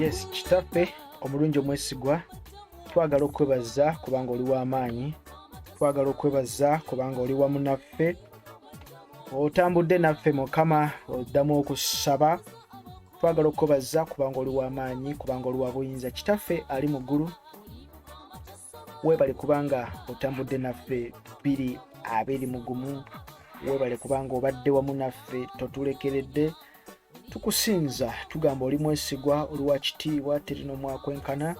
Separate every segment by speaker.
Speaker 1: yes kitaffe omulungi omwesigwa twagala okwebaza kubanga oli w'amaanyi twagala okwebaza kubanga oli wamu naffe otambudde naffe mukama oddamu okusaba twagala okukobazza kubanga oli w'amaanyi kubanga oli wa buyinza kitaffe ali mu ggulu weebale kubanga otambudde naffe biri abiri mugumu weebale kubanga obadde wamu naffe totulekeredde tukusinza tugamba oli mwesigwa oli wa kitiibwa terina omwakwenkana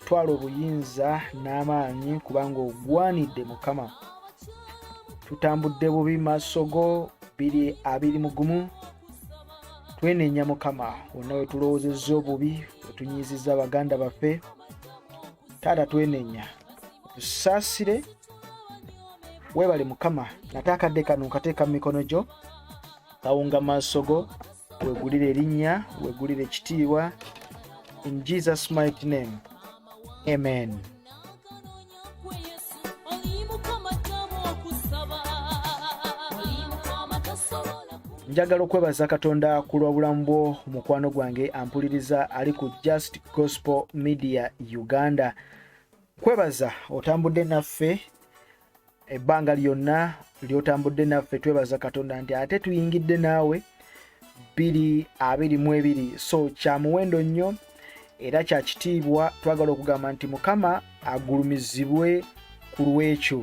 Speaker 1: twala obuyinza n'amaanyi kubanga ogwanidde mukama tutambudde bubi maaso go biri abiri mugumu twenenya mukama wonna wetulowozezza obubi wetunyiizizza baganda baffe taata twenenya tusaasire webale mukama nate akadde kano nkateeka mu mikono gyo kawunga maaso go wegulire erinnya wegulire ekitiibwa in jesus might name amen njagala okwebaza katonda ku lw'obulamu bwo mukwano gwange ampuliriza ali ku just gospel media uganda kwebaza otambudde naffe ebbanga lyonna lyotambudde naffe twebaza katonda nti ate tuyingidde naawe bbiri abiri mu ebiri so kya muwendo nnyo era kya kitiibwa twagala okugamba nti mukama agulumizibwe ku lw'ekyo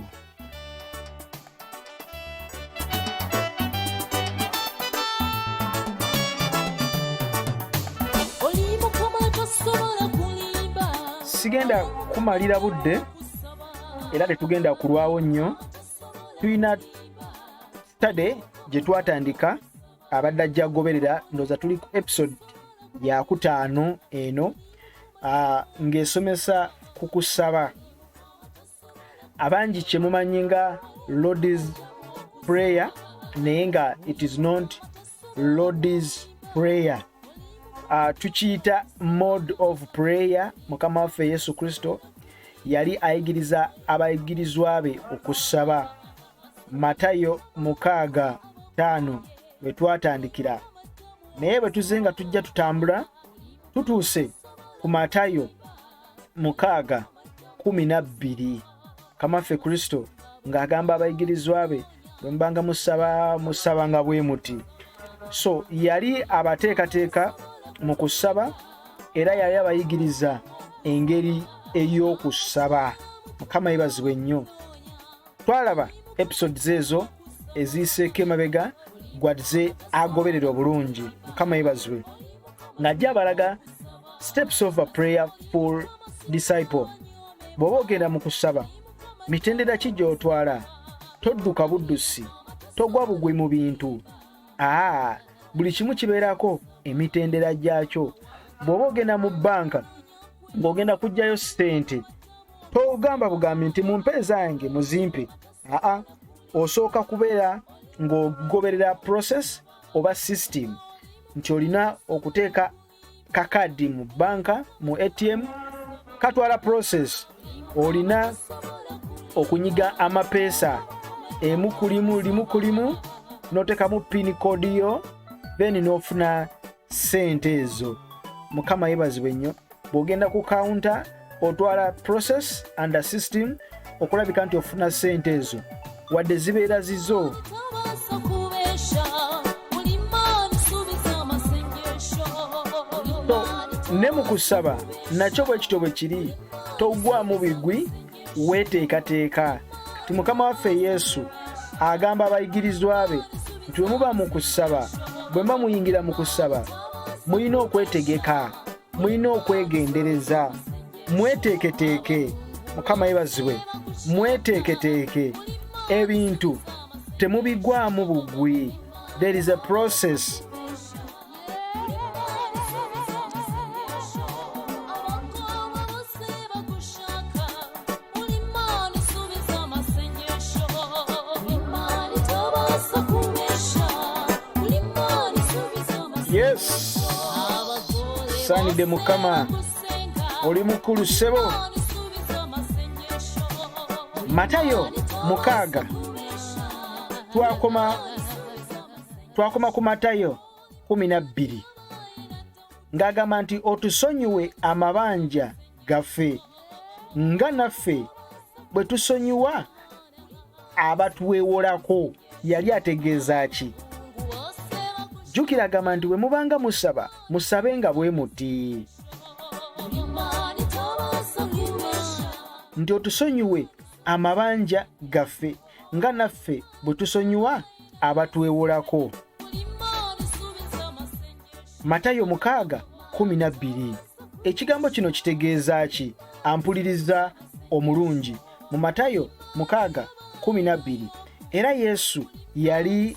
Speaker 1: sigenda kumalira budde era tetugenda kulwawo nnyo tulina study gye twatandika abadde ajja agoberera ndooza tuli ku episode yakutaano eno ah, ng'esomesa ku kusaba abangi kyemumanyi nga lords prayer naye nga it is not lords prayer uh, tukiyita mode of prayer mukama waffe yesu kristo yali ayigiriza abayigirizwa be okusaba matayo mukaaga taano we twatandikira naye bwe tuzze nga tujja tutambula tutuuse ku matayo mukaaga kumi na bbiri kamaffe kristo ng'agamba abayigirizwa be bwe mubanga musaba musabanga bwe muti so yali abateekateeka mu kusaba era yali abayigiriza engeri ey'okusaba mukama yebazibwe nnyo twalaba episodes ezo eziyiseeko emabega gwadze agoberera obulungi mukama yebazibwe ng'ajja abalaga steps of a prayer full disciple bw'oba ogenda mu kusaba mitendera ki gy'otwala todduka buddusi togwa bugwi mu bintu aa buli kimu kibeerako emitendera gyakyo bw'oba ogenda mu bbanka ng'ogenda kuggyayo ssente togamba bugambi nti mu mpeeza yange muzimpe aa osooka kubeera ng'ogoberera process oba system nti olina okuteeka kakadi mu banka mu atm katwala process olina okunyiga amapeesa emu kulimu limu kulimu notekamu pin code yo then nofuna sente ezo mukama yebazibwe nnyo bwogenda ku counter otwala process and system okulabika nti ofuna sente ezo wadde zibeera zizo ne mu kusaba nakyo bwe kityo bwe kiri togwamu bigwi weteekateeka ti mukama waffe yesu agamba abayigirizwa be nti bwe muba mu kusaba bwe muba muyingira mu kusaba mulina okwetegeka mulina okwegendereza mweteeketeeke mukama yebazibwe mweteeketeeke ebintu temubigwamu bugwi there is a process asaanidde mukama oli mukulu sebo matayo mukaaga twakoma twakoma ku matayo kumi na bbiri ng'agamba nti otusonyiwe amabanja gaffe nga naffe bwe tusonyiwa abatwewolako yali ategeeza ki jjukira agamba nti bwe mubanga musaba musabe nga bwe muti nti otusonyiwe amabanja gaffe nga naffe bwe tusonyiwa abatwewolako matayo mukaaga kumi na bbiri ekigambo kino kitegeeza ki ampuliriza omulungi mu matayo mukaaga kumi na bbiri era yesu yali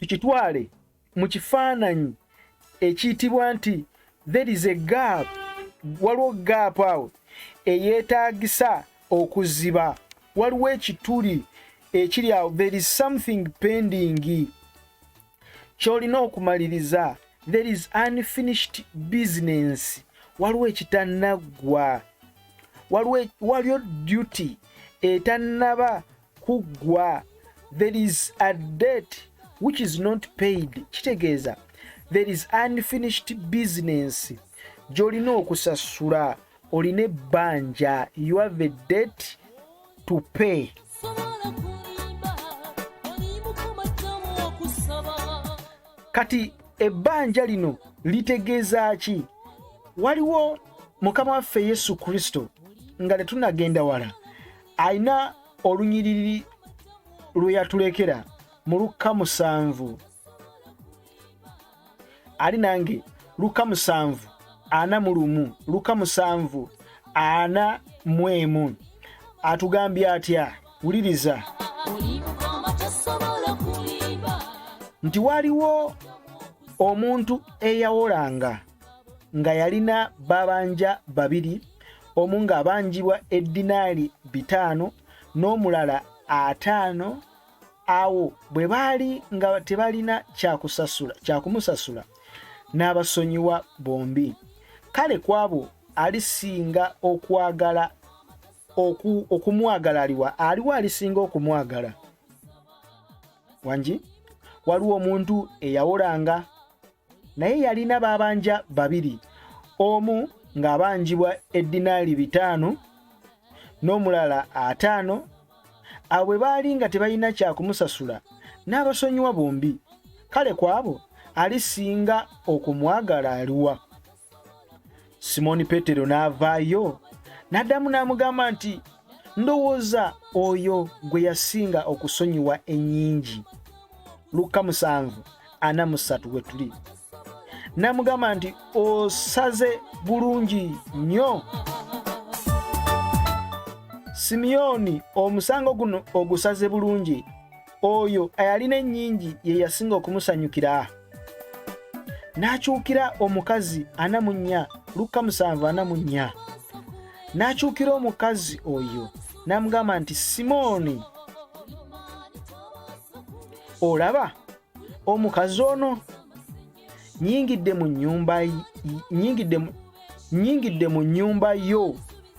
Speaker 1: tukitwale mu kifaananyi ekiyitibwa nti there is a gap waliwo gap awo eyeetaagisa okuziba waliwo ekituli ekiri awo there is something pending ky'olina okumaliriza there is unfinished business waliwo ekitanaggwa waliwo waliyo duty etannaba kuggwa there is a debt which is not paid kitegeeza there is unfinished business gy'olina okusasula olina ebbanja you have a debt to pay kati ebbanja lino litegeeza ki waliwo mukama waffe yesu kristo nga tetunagenda wala alina olunyiriri lwe yatulekera mu lukka musanvu ali nange luka musanvu ana mu lumu luka musanvu ana mu emu atugambye atya wuliriza nti waliwo omuntu eyawolanga nga yalina babanja babiri omu ng'abanjibwa eddinaali bitaano n'omulala ataano awo bwe baali nga tebalina kyakusasula kyakumusasula n'abasonyiwa bombi kale ku abo alisinga okwagala oku, okumwagala aliwa aliwo alisinga okumwagala wangi waliwo omuntu eyawolanga naye yalina babanja babiri omu ng'abanjibwa eddinaali bitaano n'omulala ataano abo bwe baali nga tebalina kyakumusasula n'abasonyiwa bombi kale kwabo alisinga okumwagala aliwa simooni peetero n'avaayo n'addamu n'amugamba nti ndowooza oyo gwe yasinga okusonyiwa ennyingi lukka musanvu ana musatu we tuli n'amugamba nti osaze bulungi nnyo simiyoni omusango guno ogusaze bulungi oyo ayalina ennyingi ye yasinga okumusanyukira n'akyukira omukazi ana mu nnya lukka musanvu ana mu nnya n'akyukira omukazi oyo n'amugamba nti simooni olaba omukazi ono nyingidde mu nnyumba nyingidde mu nnyumba yo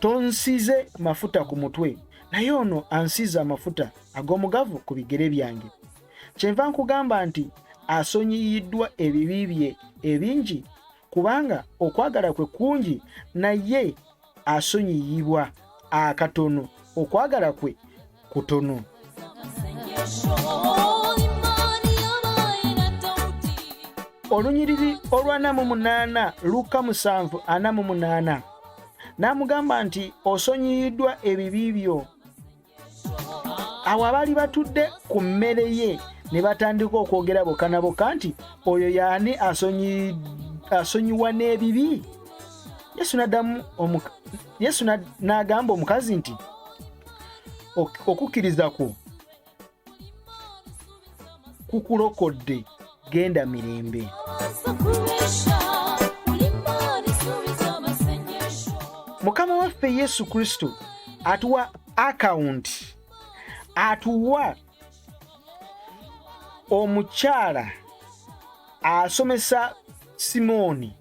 Speaker 1: tonsize mafuta ku mutwe naye ono ansiza amafuta ag'omugavu ku bigere byange kyenva nkugamba nti asonyiyiddwa ebibi bye ebingi kubanga okwagala kwe kungi naye asonyiyibwa akatono okwagala kwe kutono olunyiriri olw'ana mu munaana lukka musanvu ana mu munaana n'amugamba nti osonyiyiddwa ebibi byo awo abaali batudde ku mmere ye ne batandika okwogera bokka na bokka nti oyo yaani asonyiwa n'ebibi yesu n'agamba omukazi nti okukkiriza kwo kukulokodde genda mirembe mukama waffe yesu kristo atuwa akawunti atuwa omukyala asomesa simooni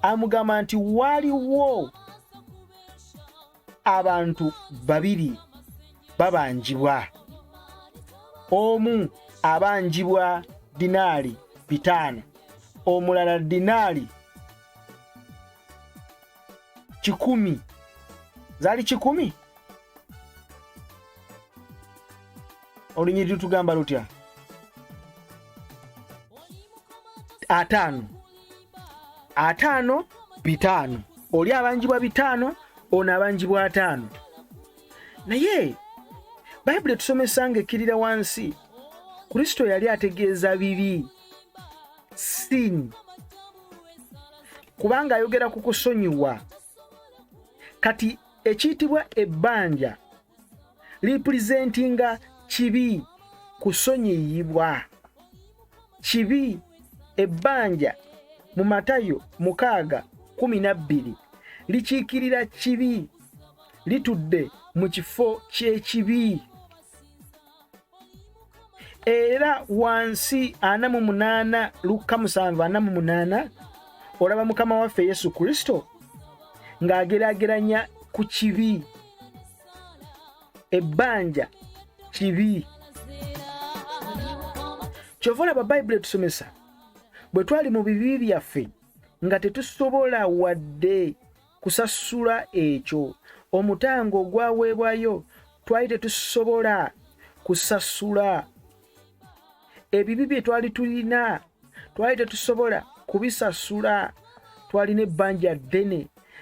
Speaker 1: amugamba nti waliwo abantu babiri babanjibwa omu abanjibwa dinaali bitaano omulala dinaali kikumi zaali kikumi olunyiriri tugamba lutya ataano ataano bitaano oli abanjibwa bitaano ono abanjibwa ataano naye bayibuli etusomesa nga ekkirira wansi kristo yali ategeeza bibi sin kubanga ayogera ku kusonyiwa kati ekiyitibwa ebbanja lipulizentinga kibi kusonyiyibwa kibi ebbanja mu matayo mukaaga kumi na bbiri likiikirira kibi litudde mu kifo ky'ekibi era wansi ana mu munaana lukka musanvu ana mu munaana olaba mukama waffe yesu kristo ng'agerageranya ku kibi ebbanja kibi kyova olaba bayibuli etusomesa bwe twali mu bibi byaffe nga tetusobola wadde kusasula ekyo omutango ogwaweebwayo twali tetusobola kusasula ebibi bye twali tulina twali tetusobola kubisasula twalina ebbanja ddene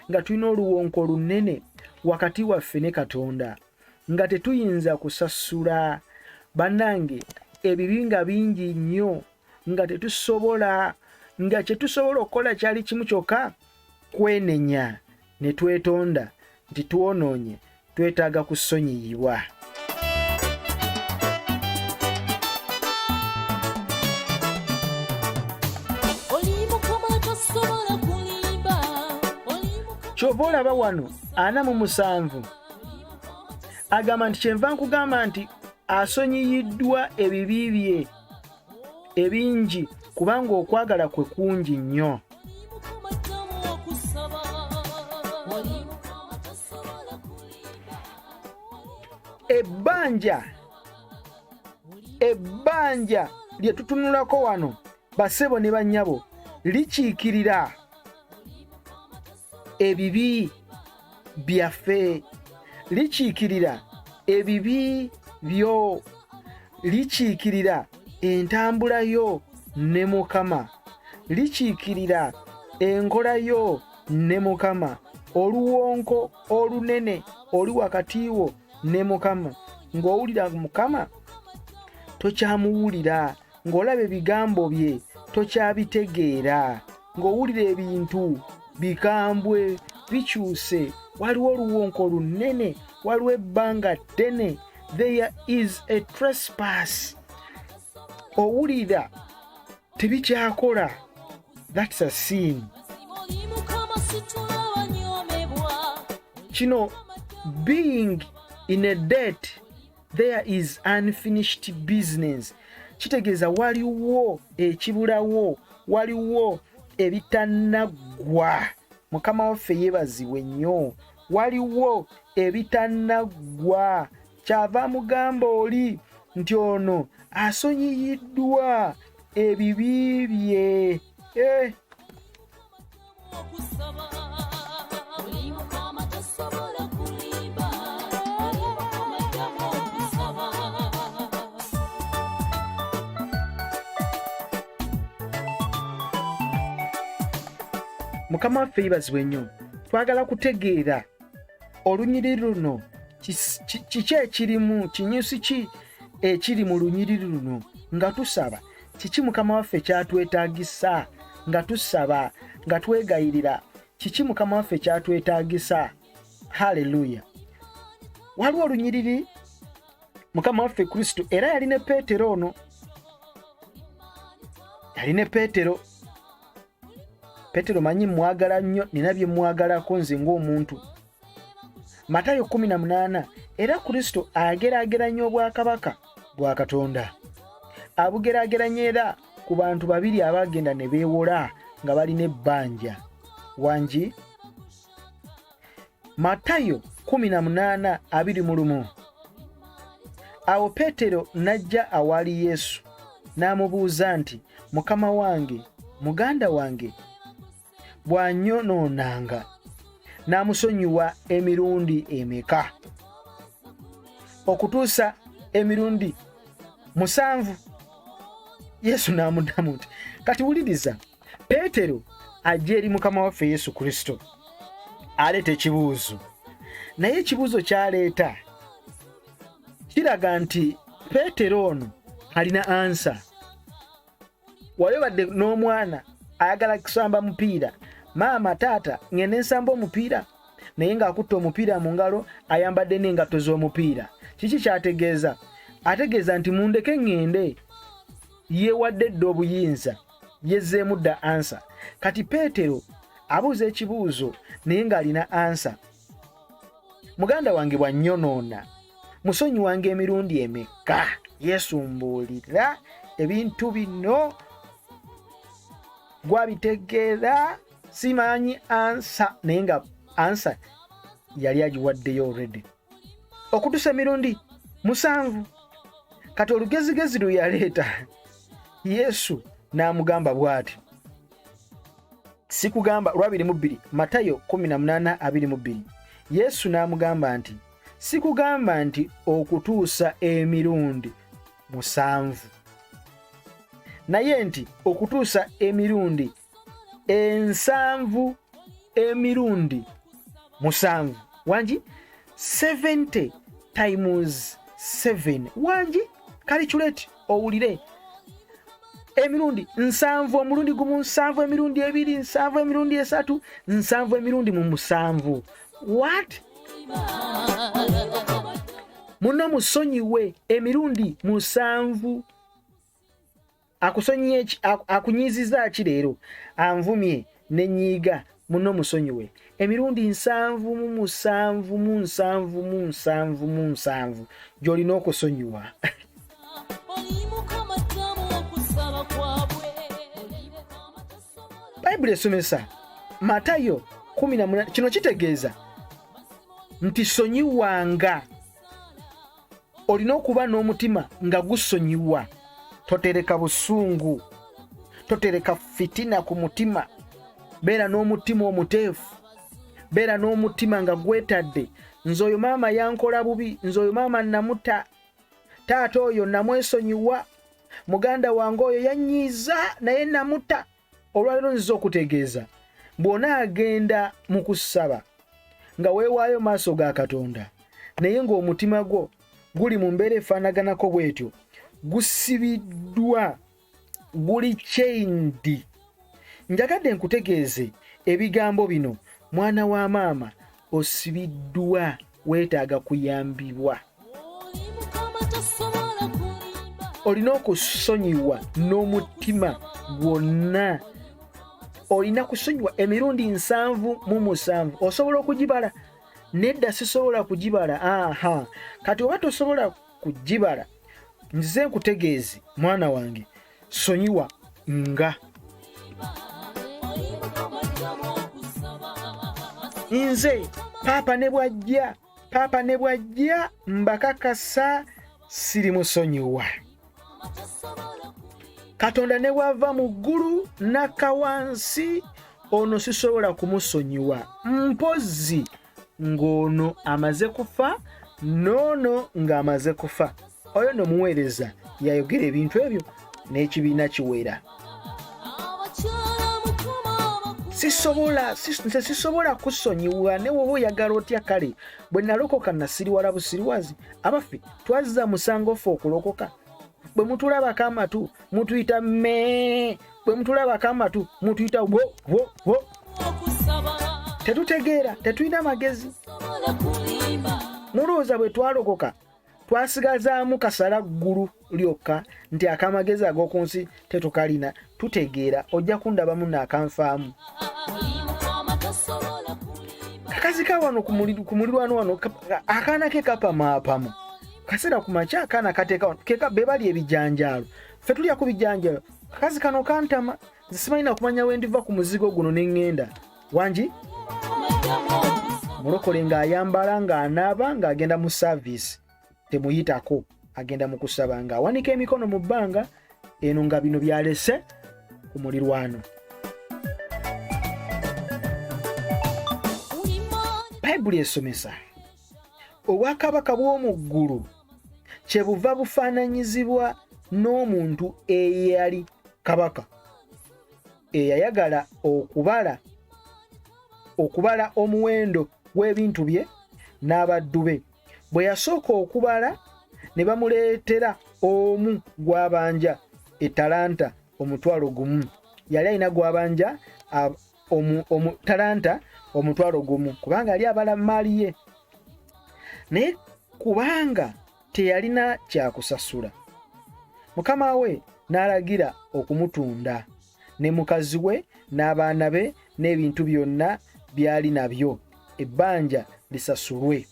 Speaker 1: nga tulina oluwonko olunene wakati waffe ne katonda nga tetuyinza kusasula bannange ebibi nga bingi nnyo nga tetusobola nga kyetusobola okukola kyali kimu kyokka kwenenya ne twetonda nti twonoonye twetaaga kusonyiyibwa kyova olaba wano ana mu musanvu agamba nti kyenva nkugamba nti asonyiyiddwa ebibi bye ebingi kubanga okwagala kwe kungi nnyo ebbanja ebbanja lye tutunulako wano basebo ne bannyabo likiikirira ebibi byaffe likiikirira ebibi byo likiikirira entambula yo ne mukama likiikirira enkola yo ne mukama oluwonko olunene oli wakati wo ne mukama ng'owulira mukama tokyamuwulira ng'olaba ebigambo bye tokyabitegeera ng'owulira ebintu bikambwe bikyuse waliwo oluwonko lunnene waliwo ebbanga ddene there is a trespass owulira tebikyakola thats a sin kino being in a debt there is unfinished business kitegeeza waliwo ekibulawo waliwo ebitanaggwa mukama waffe yebazibwe nnyo waliwo ebitanaggwa kyava mugamba oli nti ono asonyiyiddwa ebibi bye eh. mukama waffe yibazibwe nnyo twagala kutegeera olunyiri luno kiki ekirimu kinyusi ki ekiri mu lunyiriri luno nga tusaba kiki mukama waffe kyatwetagisa nga tusaba nga twegayirira kiki mukama waffe kyatwetagisa haleluya waliwo olunyiriri mukama waffe kristo era yali ne peetero ono yali ne peetero peetero manyi mwagala nnyo nina bye mwagalako nze ng'omuntu matayo 18 era kristo ageraageranya obwakabaka bwa katonda abugeraageranya era ku bantu babiri abaagenda ne beewola nga balina ebbanja wangi matayo 18 abiri mu lumu awo peetero n'ajja awaali yesu n'amubuuza nti mukama wange muganda wange bw'anyonoonanga n'amusonyiwa emirundi emeka okutuusa emirundi musanvu yesu n'amuddamu nti kati wuliriza peetero ajja eri mukama waffe yesu kristo aleeta ekibuuzo naye ekibuuzo kyaleeta kiraga nti peetero ono alina ansa wali obadde n'omwana ayagala kusamba mupiira maama taata ngende nsamba omupiira naye ng'akutte omupiira mu ngalo ayambadde n'engatto z'omupiira kiki kyategeeza ategeeza nti mundeke ŋŋende yeewadde dda obuyinza yezzeemu dda ansa kati peetero abuuza ekibuuzo naye ng'alina ansa muganda wange bwannyonoona musonyiwanga emirundi emekka yesu mbuulira ebintu bino gwabitegeera simanyi ansa naye nga ansa yali agiwaddeyo olredi okutusa emirundi musanvu kati olugezigezi lwe yaleeta yesu n'amugamba bw'ati sikugamba lwabiri mu bbiri matayo 1822 yesu n'amugamba nti sikugamba nti okutuusa emirundi musanvu naye nti okutuusa emirundi ensanvu emirundi musanvu wangi 70 times 7 wangi kaliculate owulire emirundi nsanvu omulundi gumu nsanvu emirundi ebiri nsanvu emirundi esatu nsanvu emirundi mu musanvu wat muno musonyiwe emirundi musanvu akusonyiye akunyiziza ki leero anvumye ne nnyiiga muno musonyiwe emirundi nsanvu mu musanvu mu nsanvu mu nsanvu mu nsanvu gy'olina okusonyiwa bayibuli esomesa matayo 18 kino kitegeeza nti sonyiwanga olina okuba n'omutima nga gusonyiwa totereka busungu totereka fitina ku mutima beera n'omutima omuteefu beera n'omutima nga gwetadde nze oyo maama yankola bubi nze oyo maama namuta taata oyo namwesonyiwa muganda wange oyo yanyiiza naye namuta olwaliro nziza okutegeeza bw'onaagenda mu kusaba nga weewaayo maaso ga katonda naye ng'omutima gwo guli mu mbeera efaanaganako bw'etyo gusibiddwa guli chaindi njagadde nkutegeeze ebigambo bino mwana wa maama osibiddwa weetaaga kuyambibwa olina okusonyiwa n'omutima gwonna olina kusonyiwa emirundi nsanvu mu musanvu osobola okugibala nedda sisobola kugibala aha kati oba tosobola ku gibala nzize nkutegeeze mwana wange sonyiwa nga nze paapa ne bwajja paapa ne bwajja mbakakasa siri musonyiwa katonda ne bwava mu ggulu n'akka wansi ono sisobola kumusonyiwa mpozzi ng'ono amaze kufa n'ono ng'amaze kufa oyo no muweereza yayogera ebintu ebyo n'ekibiina kiwera sisobola nze sisobola kusonyiwa ne woba oyagala otya kale bwe nalokoka nasiriwala busiriwazi abaffe twazza musango ffe okulokoka bwe mutulabako amatu mutuyita me bwe mutulabako amatu mutuyita wo wo wo tetutegeera tetulina magezi mulowooza bwe twalokoka twasigazaamu kasala ggulu lyokka nti akamagezi ag'oku nsi tetukalina tutegeera ojja kundabamu naakanfaamu kakazi ka wano ku mulirwano wano akaana ke kapamaapamu kaseera ku makya akaana kateeka wano keka be bali ebijanjaalo fe tulya ku bijanjaalo kakazi kano kantama nze simanyi nakumanya wendiva ku muzigo guno ne ŋŋenda wangi mulokole ng'ayambala ng'anaaba ng'agenda mu saaviisi temuyitako agenda mu kusaba ng'awanika emikono mu bbanga eno nga bino byalese ku mulirwano bayibuli esomesa obwakabaka bw'omu ggulu kyebuva bufaananyizibwa n'omuntu eyali kabaka eyayagala okubala okubala omuwendo gw'ebintu bye n'abaddu be bwe yasooka okubala ne bamuleetera omu gw'abanja etalanta omutwalo gumu yali alina gw'abanja omu, omu talanta omutwalo gumu kubanga yali abala maali ye naye kubanga teyalina kyakusasula mukama we n'alagira okumutunda ne mukazi we n'abaana be n'ebintu byonna byali nabyo ebbanja lisasulwe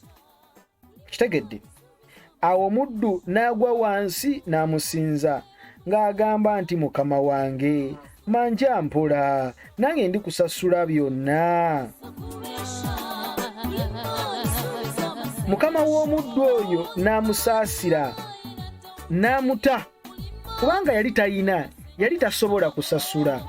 Speaker 1: kitegedde awo omuddu n'agwa wansi n'amusinza ng'agamba nti mukama wange manja mpola nange ndi kusasula byonna mukama w'omuddu oyo n'amusaasira n'amuta kubanga yali talina yali tasobola kusasula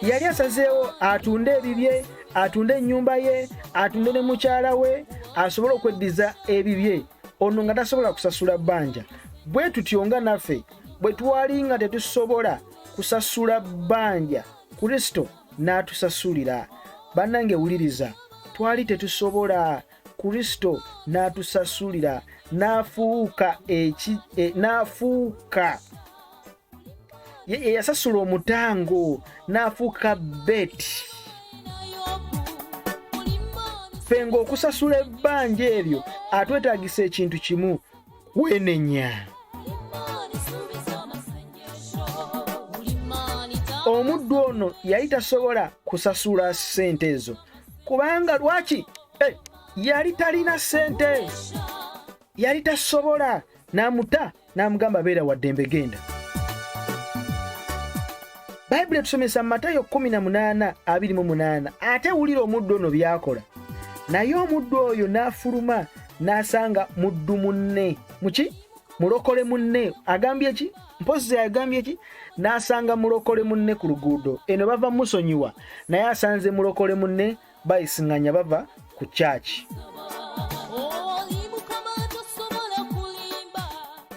Speaker 1: yali asazeewo atunde ebibye atunde ennyumba ye atunde ne mukyala we asobole okweddiza ebibye ono nga tasobola kusasula bbanja bwe tutyo nga naffe bwe twali nga tetusobola kusasula bbanja kristo n'atusasulira bannange wuliriza twali tetusobola kristo n'atusasulira n'afuuka eki e, n'afuuka yeyasasula omutango n'afuuka beti ffe ng'okusasula ebbanja eryo atwetagisa ekintu kimu kwenenya omuddu ono yali tasobola kusasula ssente ezo kubanga lwaki eh, yali talina ssente yali tasobola n'amuta n'amugamba beera waddembe genda bayibuli etusomesa mu matayo 18:28 ate wulira omuddu ono byakola naye omuddu oyo n'afuluma n'asanga muddu munne muki mulokole munne agambye ki mpozi agambye ki n'asanga mulokole munne ku luguudo eno bava musonyiwa naye asanze mulokole munne bayisinganya bava ku kyaki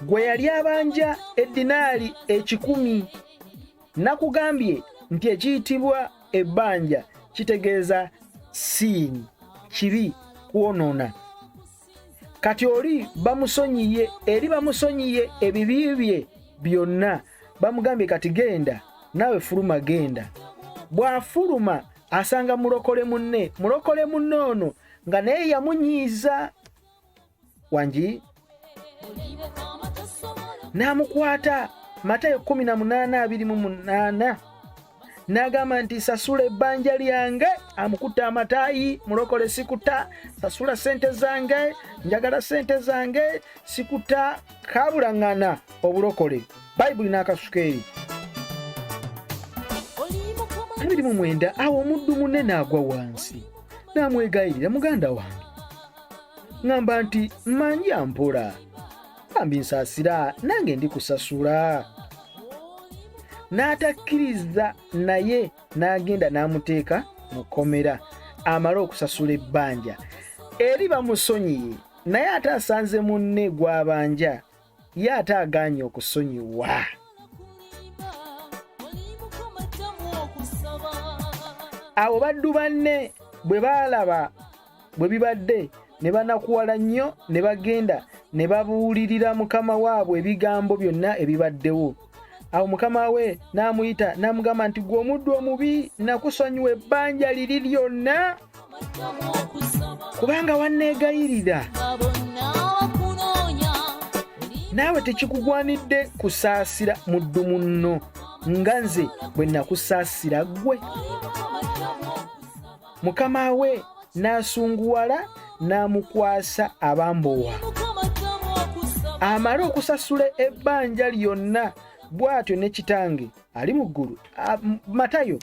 Speaker 1: gwe yali abanja eddinaali ekikumi nakugambye nti ekiyitibwa ebbanja kitegeeza siini kibi kwonoona kati oli bamusonyiye eri bamusonyiye ebibi bye byonna bamugambye kati genda naawe fuluma genda bw'afuluma asanga mulokole munne mulokole munne ono nga naye yamunyiiza wangi n'amukwata matayo 18:28 n'agamba nti sasula ebbanja lyange amukutte amataayi mulokole sikuta sasula sente zange njagala sente zange sikuta kabulaŋŋana obulokole bayibuli n'akasuka eri abiri mu mwenda awo omuddu munne n'agwa wansi n'amwegayirira muganda wange ŋamba nti manja mpola bambi nsaasira nange ndi kusasula n'atakkiriza naye n'agenda n'amuteeka mu kkomera amale okusasula ebbanja eri bamusonyiye naye ate asanze munne gw'abanja ye ate agaanye okusonyiwa abo baddu banne bwe baalaba bwe bibadde ne banakuwala nnyo ne bagenda ne babuulirira mukama waabwe ebigambo byonna ebibaddewo awo mukama we n'amuyita n'amugamba nti gwe omuddu omubi nakusonyiwa ebbanja liri lyonna kubanga wanneegayirira naawe tekikugwanidde kusaasira muddu munno nga nze bwe nakusaasira ggwe mukama we n'asunguwala n'amukwasa abambowa amale okusasula ebbanja lyonna bw'atyo ne kitange ali mu ggulu matayo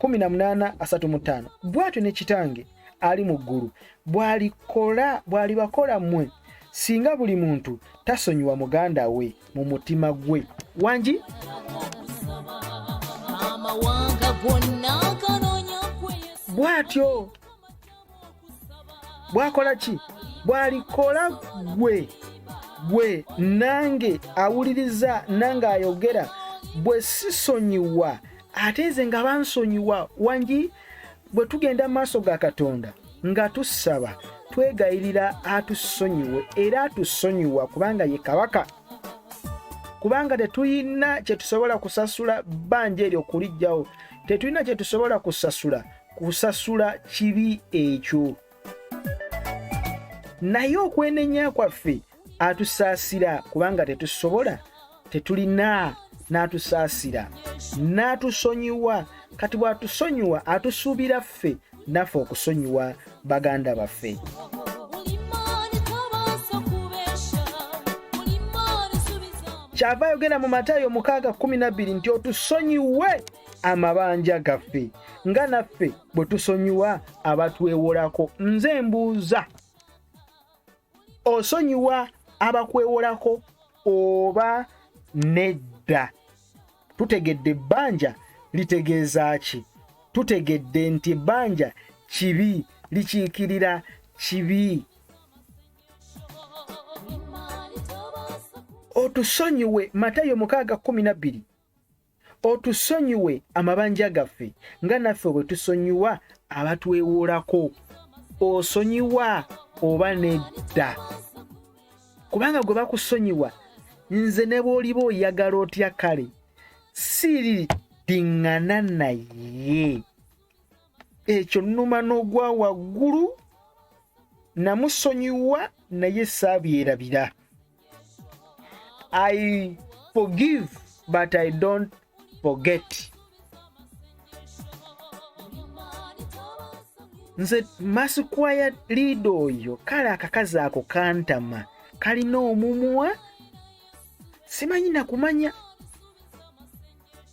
Speaker 1: 18:35 bw'atyo ne kitange ali mu ggulu bw'alikola bw'alibakola mmwe singa buli muntu tasonyiwa muganda we mu mutima gwe wangi bwatyo bwakola ki bwalikola gwe gwe nange awuliriza nange ayogera bwe sisonyiwa ate nze nga bansonyiwa wangi bwe tugenda mu maaso ga katonda nga tusaba twegayirira atusonyiwe era atusonyiwa kubanga ye kabaka kubanga tetulina kyetusobola kusasula bbanja eryo okulijjawo tetulina kyetusobola kusasula kusasula kibi ekyo naye okwenenya kwaffe atusaasira kubanga tetusobola tetulina n'atusaasira n'atusonyiwa kati bw'atusonyiwa atusuubira ffe naffe okusonyiwa baganda baffe kyava ayogera mu matayo mukaaga 12 nti otusonyiwe amabanja gaffe nga naffe bwe tusonyiwa abatwewolako nze mbuuza osonyiwa abakwewolako oba nedda tutegedde ebbanja litegeeza ki tutegedde nti ebbanja kibi likiikirira kibi otusonyiwe matayo mukaaga kumi na bbiri otusonyiwe amabanja gaffe nga naffe bwe tusonyiwa abatwewoolako osonyiwa oba nedda kubanga gwe bakusonyiwa nze ne bw'oliba oyagala otya kale siriddiŋŋana naye ekyo nnuma n'ogwa waggulu namusonyiwa naye saabyerabira I forgive but I don't forget. Nze masikwaya liida oyo kale akakazi ako kantama kalina omumwa simanyi nakumanya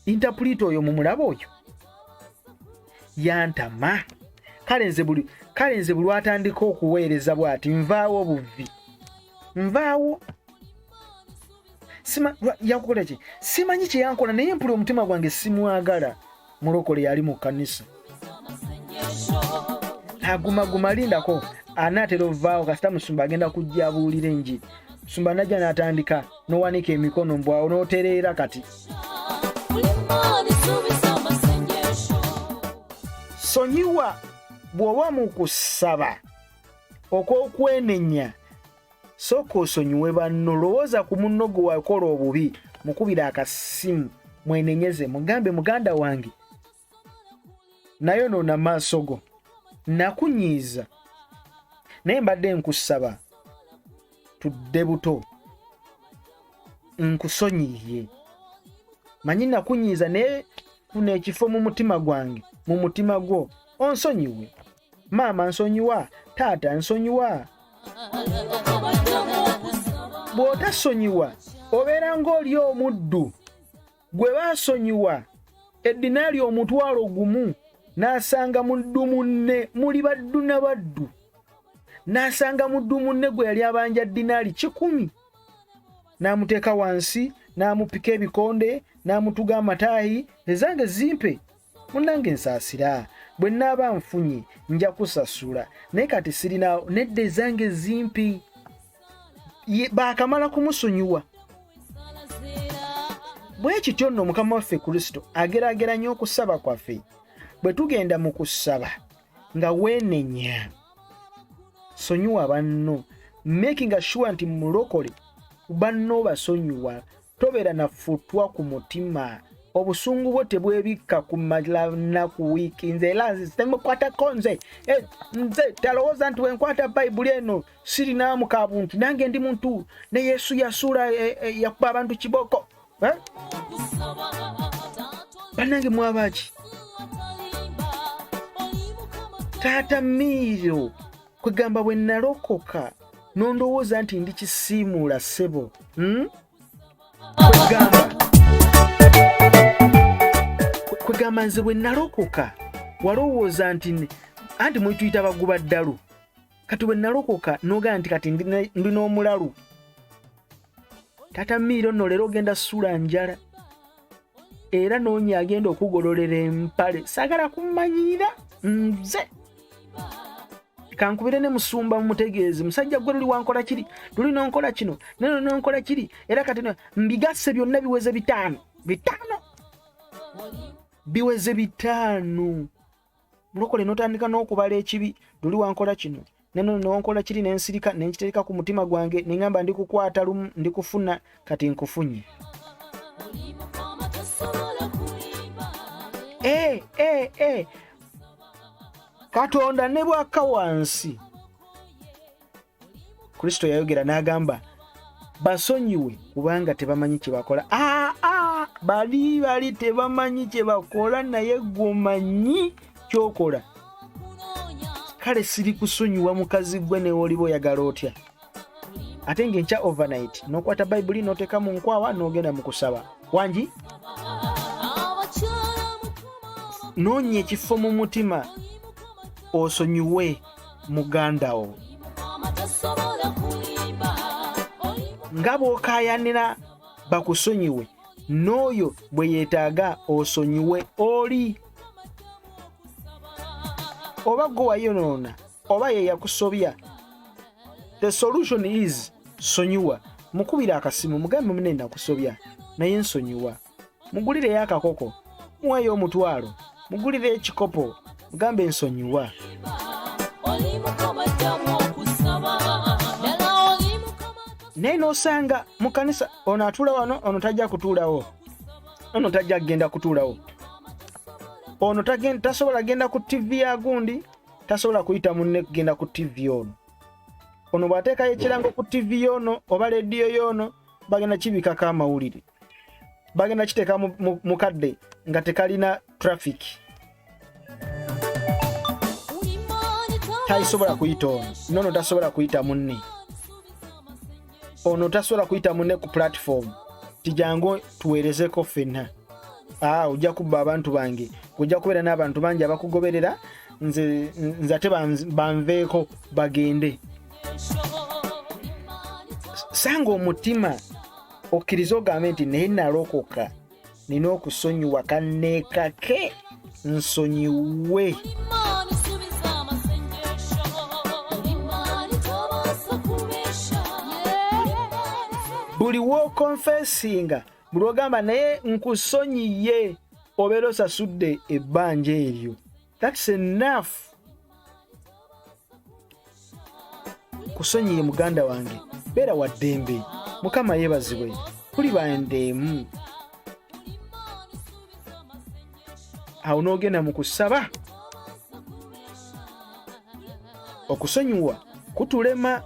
Speaker 1: intapulita oyo mumulaba oyo yantama kale nze buli kale nze buli atandika okuweereza bwati nvaawo buvvi nvaawo yankukola ki simanyi kyeyankola naye mpula omutima gwange simwagala mulokole yali mu kanisa agumaguma lindako anaatera ovaawo kasita musumba agenda kujja abuulira enjiri musumba najja n'atandika n'owanika emikono mbwawo n'otereera kati sonyiwa bw'oba mu kusaba okw'okwenenya sooka osonyiwe banno lowooza ku munno gwe wakola obubi mukubira akasimu mwenenyeze mugambe muganda wange naye onoona maaso go nakunyiiza naye mbadde nkusaba tudde buto nkusonyiye manyi nakunyiiza naye kuna ekifo mu mutima gwange mu mutima gwo onsonyiwe maama nsonyiwa taata nsonyiwa bw'otasonyiwa obeera ng'oli omuddu gwe baasonyiwa eddinaali omutwalo gumu n'asanga muddu munne muli baddu na baddu n'asanga muddu munne gwe yali abanja ddinaali kikumi n'amuteeka wansi n'amupika ebikonde n'amutuga amataayi ezange zimpe munnange nsaasira bwe nnaaba nfunye nja kusasula naye kati sirina nedda ezange zimpi baakamala kumusonyiwa bwe kityo nno mukama waffe kristo ageraageranya okusaba kwaffe bwe tugenda mu kusaba nga weenenya sonyiwa banno makinga sure nti mulokole banno basonyiwa tobeera nafutwa ku mutima obusungu bwo tebwebikka ku malanaku wiiki nze era nze temukwatako nze eh, nze talowooza nti wenkwata bayibuli eno sirinaamu ka buntu nange ndi muntu ne yesu yasuula eh, eh, yakuba abantu kiboko eh? banange mwabaki taata miiro kwegamba bwe nalokoka nondowooza nti ndi kisiimuula ssebo hmm? kwegamba nze bwe nalokoka walowooza nti anti mwetuyita baguba ddalu kati bwe nalokoka nogamba nti kati ndi n'omulalu tata miiro no leero ogenda suula njala era noonya agenda okugololera empale sagala kumanyira nze kankubire ne musumba mumutegeeze musajja gwe luli wankola kiri luli nonkola kino neno nonkola kiri era kati mbigasse byonna biweze bitaano bitaano biweze bitaano mulokole notandika n'okubala ekibi luli wankola kino neno newonkola kiri nensirika nenkitereka ku mutima gwange neŋamba ndi kukwata lumu ndi kufuna kati nkufunye eh, eh, eh. katonda ne bwaka wansi kristo yayogera n'agamba basonyiwe kubanga tebamanyi kyebakola aa ah, ah, bali bali tebamanyi kyebakola naye gwomanyi kyokola kale siri kusonyiwa mukazi gwe newoliba oyagala otya ate ngaenkya overnight nokwata bayibuli noteka mu nkwawa nogenda mu kusaba wangi noonya ekifo mu mutima osonyiwe mugandawo nga bw'okaayanira bakusonyiwe n'oyo bwe yeetaaga osonyiwe oli oba gwe wayonoona oba ye yakusobya the solution is sonyiwa mukubira akasimu mugambe mune nakusobya naye nsonyiwa mugulireyo akakoko muweeyo omutwalo mugulire ekikopo mugambe ensonyiwa naye n'osanga mu kanisa ono atuula wano ono tajja kutuulawo ono tajja kugenda kutuulawo ono tasobola genda ku tivi ya gundi tasobola kuyita munne kugenda ku tivi ono ono bw'ateekayo ekirango ku tivi yoono oba leediyo yoono bagenda kibikako amawulire bagenda kiteeka mu kadde nga tekalina traffic taisobola kuyita ono nono tasobola kuyita munne ono tasobola kuyita munne ku platform tijangu tuweerezeko ffenna aa ojja kubba abantu bange ojja kubeera n'abantu bangi abakugoberera nze ate banveeko bagende sanga omutima okkirize ogambe nti naye nalokoka nina okusonyiwa kanneekake nsonyiwe buli wokonfesinga buli ogamba naye nkusonyiye obeera osasudde ebbanja eryo that's enough kusonyiye muganda wange beera wa ddembe mukama yeebazibwe kuli bandeemu awo n'ogenda mu kusaba okusonyiwa kutulema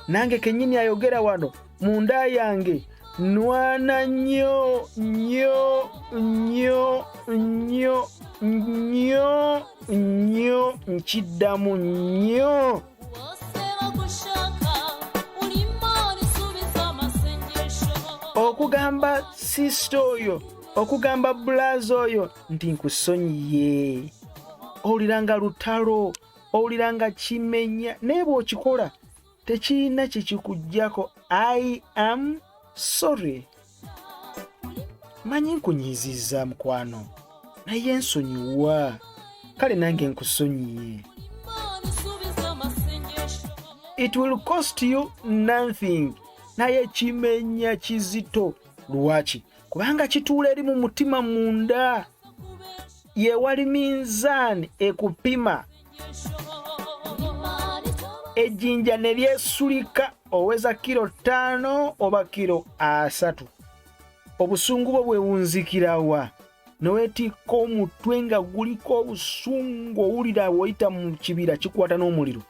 Speaker 1: nange kenyini ayogera wano munda yange nwana nyo nyo nyo nyo nyo nyo nkiddamu nyo okugamba sisita oyo okugamba bulazi oyo nti nkusonyiye owulira nga lutalo owulira nga kimenya naye bw'okikola tekirina kyekikugyako i am sorry manyi nkunyiizizza mukwano naye nsonyiwa kale nange nkusonyiye it will cost you nothing naye kimenya kizito lwaki kubanga kituula eri mu mutima munda yewali minzaani ekupima ejjinja ne lyesulika oweza kiro ttaano oba kiro asatu obusungu bwo bwewunzikira wa newetikka omutwe nga guliko obusungu owulira woyita mu kibira kikwata n'omuliro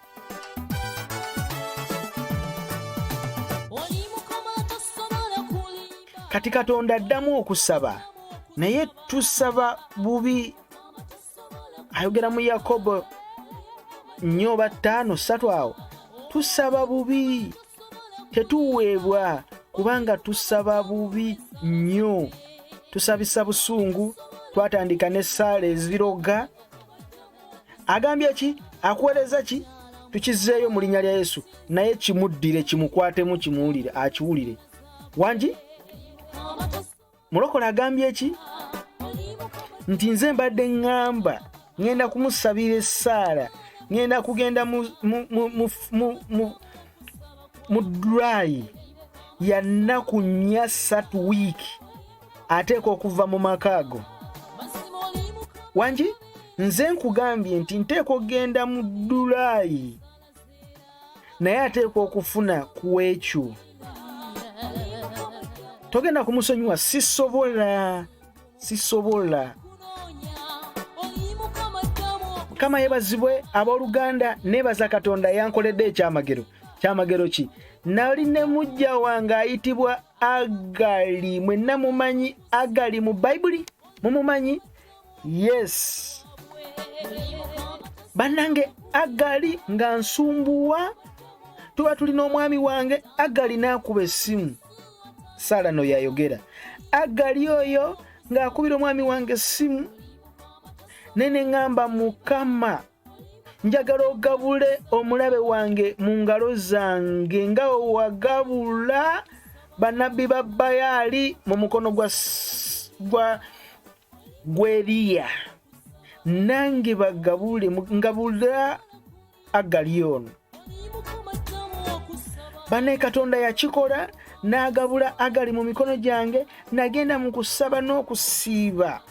Speaker 1: kati katonda addamu okusaba naye tusaba bubi ayogera mu yakobo nnyo oba ttaano ssatu awo tusaba bubi tetuweebwa kubanga tusaba bubi nnyo tusabisa busungu twatandika n'essaala eziroga agambye ki akuweereza ki tukizzeeyo mu linnya lya yesu naye kimuddire kimukwatemu kimuwulire akiwulire wangi mulokole agambye ki nti nze mbadde ŋŋamba ŋŋenda kumusabira essaala ŋŋenda kugenda mu dulayi ya nnaku nnya satu wiiki ateeka okuva mu maka ago wangi nze nkugambye nti nteeka okugenda mu dulaayi naye ateeka okufuna ku ekyo togenda kumusonyiwa sisobola sisobola mukama yebazibwe abooluganda neebaza katonda yankoledde ekyamagero kyamagero ki nali ne mujja wange ayitibwa agali mwenna mumanyi agali mu bayibuli mumumanyi yes bannange agali nga nsumbuwa tuba tuli n'omwami wange agali n'akuba essimu saala no yayogera agali oyo ng'akubira omwami wange essimu nene ŋŋamba mukama njagala ogabule omulabe wange mu ngalo zange nga wewagabula banabbi ba bayaali mu mukono gwa gwa gweriya nange bagabule ngabula agali ono bane katonda yakikola n'agabula agali mu mikono gyange nagenda mu kusaba n'okusiiba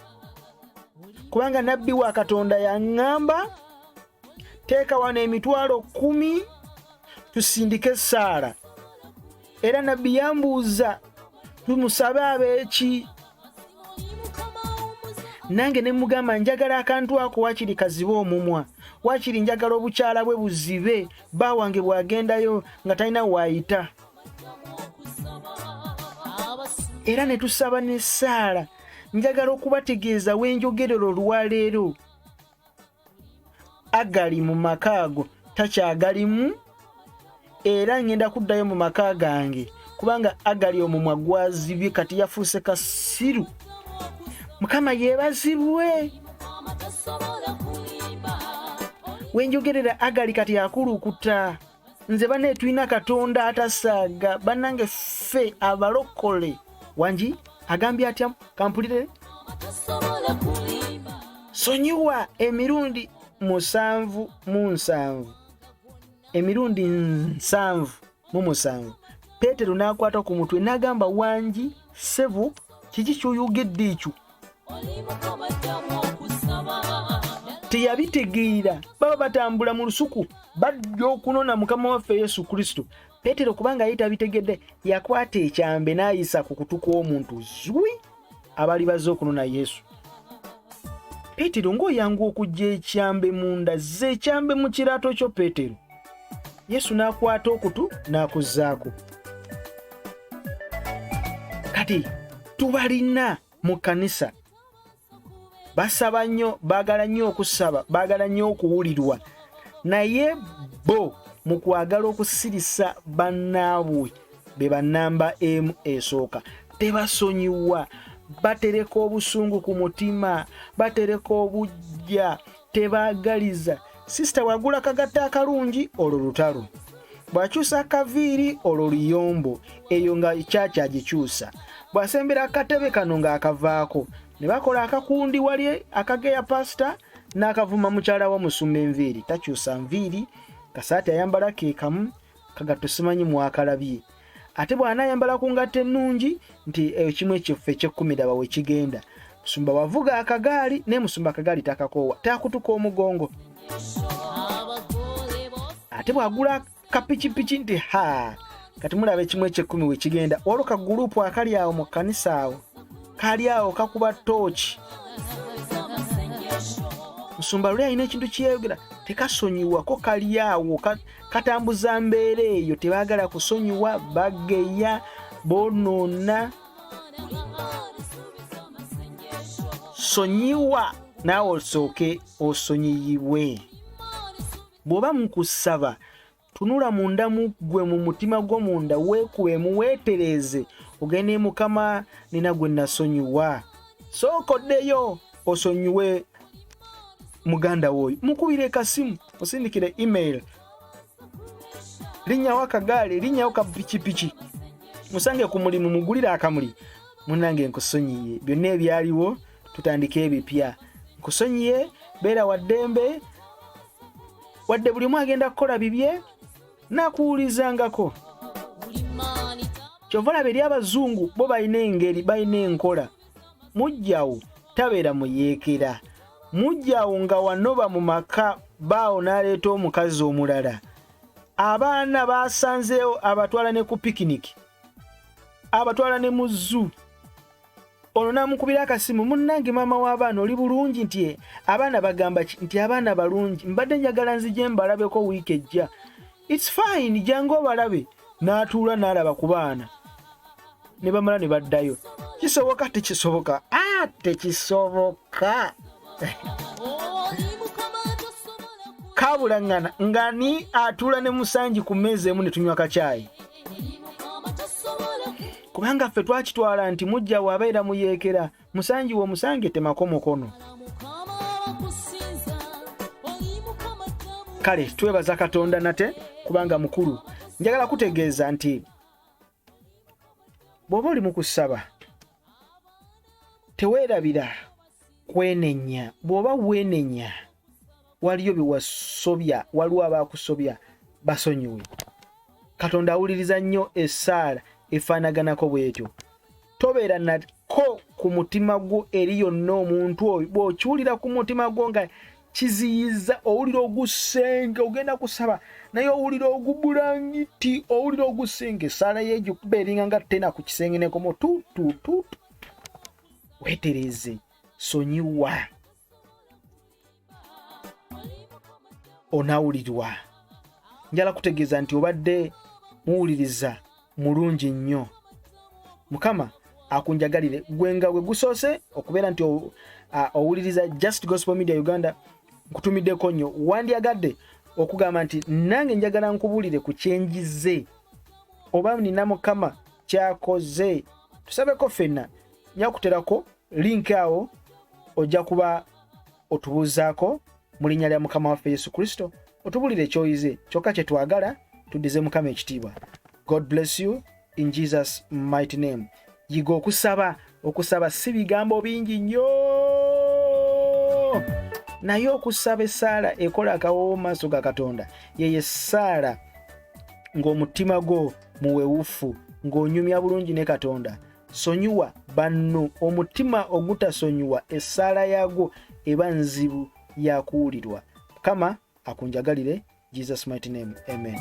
Speaker 1: kubanga nabbi wa katonda yaŋŋamba teeka wano emitwalo kkumi tusindike essaala era nabbi yambuuza tumusabe abeeki nange ne mugamba njagala akantu ako wakiri kazibe omumwa wakiri njagala obukyala bwe buzibe bba wange bw'agendayo nga talina waayita era ne tusaba n'essaala njagala okubategeeza wenjogerera olwaleero agali mu maka ago takyagalimu era ngenda kuddayo mu maka gange kubanga agali omumwa gwazibye kati yafuuse kasiru mukama yebazibwe wenjogerera agali kati akulukuta nze bane tulina katonda atasaaga banange ffe abalokole wangi agambye atya kampulire sonyiwa emirundi musanvu mu nsanvu emirundi nsanvu mu musanvu peetero n'akwata ku mutwe n'agamba wangi ssebo kiki kyoyogedde ekyo teyabitegeera baba batambula mu lusuku bajja okunona mukama waffe yesu kristo petero kubanga ye tabitegedde yakwata ekyambe n'ayisa ku kutu kw'omuntu zwi abali bazze okunona yesu petero ng'oyangu okujja ekyambe munda zze ekyambe mu kiraato kyo petero yesu n'akwata okutu n'akuzzaako kati tubalina mu kanisa basaba nnyo baagala nnyo okusaba baagala nnyo okuwulirwa naye bo mu kwagala okusirisa bannaabwe be bannamba emu esooka tebasonyiwa batereka obusungu ku mutima batereka obujja tebaagaliza sisita wagula kagatta akalungi olwo lutalo bw'akyusa akaviiri olwo luyombo eyo nga kyaki agikyusa bw'asembera akatebe kano ng'akavaako ne bakola akakundi wali akageya pasita n'akavuma mukyala wa musumba enviiri takyusa nviiri kasaati ayambala ke kamu kagatto simanyi mwakalabye ate bw'anaayambala ku ngatto ennungi nti eyo kimu ekyoffe ekyekkumiraba we kigenda musumba wavuga akagaali naye musumba akagaali takakoowa taakutuka omugongo ate bw'agula kapikipiki nti ha kati mulaba ekimu ekyekkumi we kigenda waliwo ka guruupu akali awo mu kkanisa awo kali awo kakuba tooki musumba luli alina ekintu kyeyogera tekasonyiwako kali awo katambuza mbeera eyo tebaagala kusonyiwa bageya bonoona sonyiwa naawe osooke osonyiyibwe bw'oba mukusaba tunula munda mu ggwe mu mutima gwo munda weekuwemu weetereeze ogende mukama nina gwe nasonyiwa sooka oddeyo osonyiwe muganda woyo mukubire kasimu osindikire email linyawo akagaali linyawo ka pikipiki musange ku mulimu mugulire akamuli munange nkusonyiye byonna ebyaliwo tutandike ebipya nkusonyiye beera waddembe wadde buli omu agenda kukola bibye nakuwulizangako kyova olaba eri abazungu bo balina engeri balina enkola mujjawo tabeera muyeekera mujjawo nga wanoba mu maka baawo n'aleeta omukazi omulala abaana baasanzeewo abatwala ne ku pikiniki abatwala ne mu zuu ono namukubira akasimu munnange maama w'abaana oli bulungi nti eh, abaana bagamba nti abaana balungi mbadde njagala nzije mbalabeko wiiki ejja its fine jangu obalabe n'atuula n'alaba ku baana ne bamala ne baddayo kisoboka tekisoboka a tekisoboka kabulaŋŋana nga ni atuula ne musanji ku mmeeza emu ne tunywa kacaayi kubanga ffe twakitwala nti mujja waabeera muyeekera musangi wo musange temako mukono kale twebaza katonda nate kubanga mukulu njagala kutegeeza nti bw'oba oli mu kusaba teweerabira kwenenya bw'oba weenenya waliyo byewasobya waliwo abakusobya basonyiwe katonda awuliriza nnyo esaala efaanaganako bwetyo tobeera nako ku mutima gwo eri yonna omuntu oyo bw'okiwulira ku mutima gwo nga kiziyiza owulira ogusenge ogenda kusaba naye owulira ogubulangiti owulira ogusenge esaala yegikuba eringa nga tena ku kisenge nekomo tutututu wetereze sonyiwa onawulirwa njala kutegeeza nti obadde muwuliriza mulungi nnyo mukama akunjagalire gwe nga gwe gusoose okubeera nti owuliriza just gospel media uganda nkutumiddeko nnyo wandyagadde okugamba nti nange njagala nkubuulire ku kyenjize oba nina mukama kyakoze tusabeko fenna nyakuterako link awo ojja kuba otubuuzaako mu linnya lya mukama waffe yesu kristo otubulire ekyoyize kyokka kye twagala tuddize mukama ekitiibwa god bless you in jesus mighty name yiga okusaba okusaba si bigambo bingi nnyo naye okusaba essaala ekola akawoowo mu maaso ga katonda yeyo essaala ng'omutima gwo muwewufu ng'onyumya bulungi ne katonda sonyiwa banno omutima ogutasonyiwa essaala yaagwo eba nzibu yakuwulirwa mukama akunjagalire jesus mighty name amen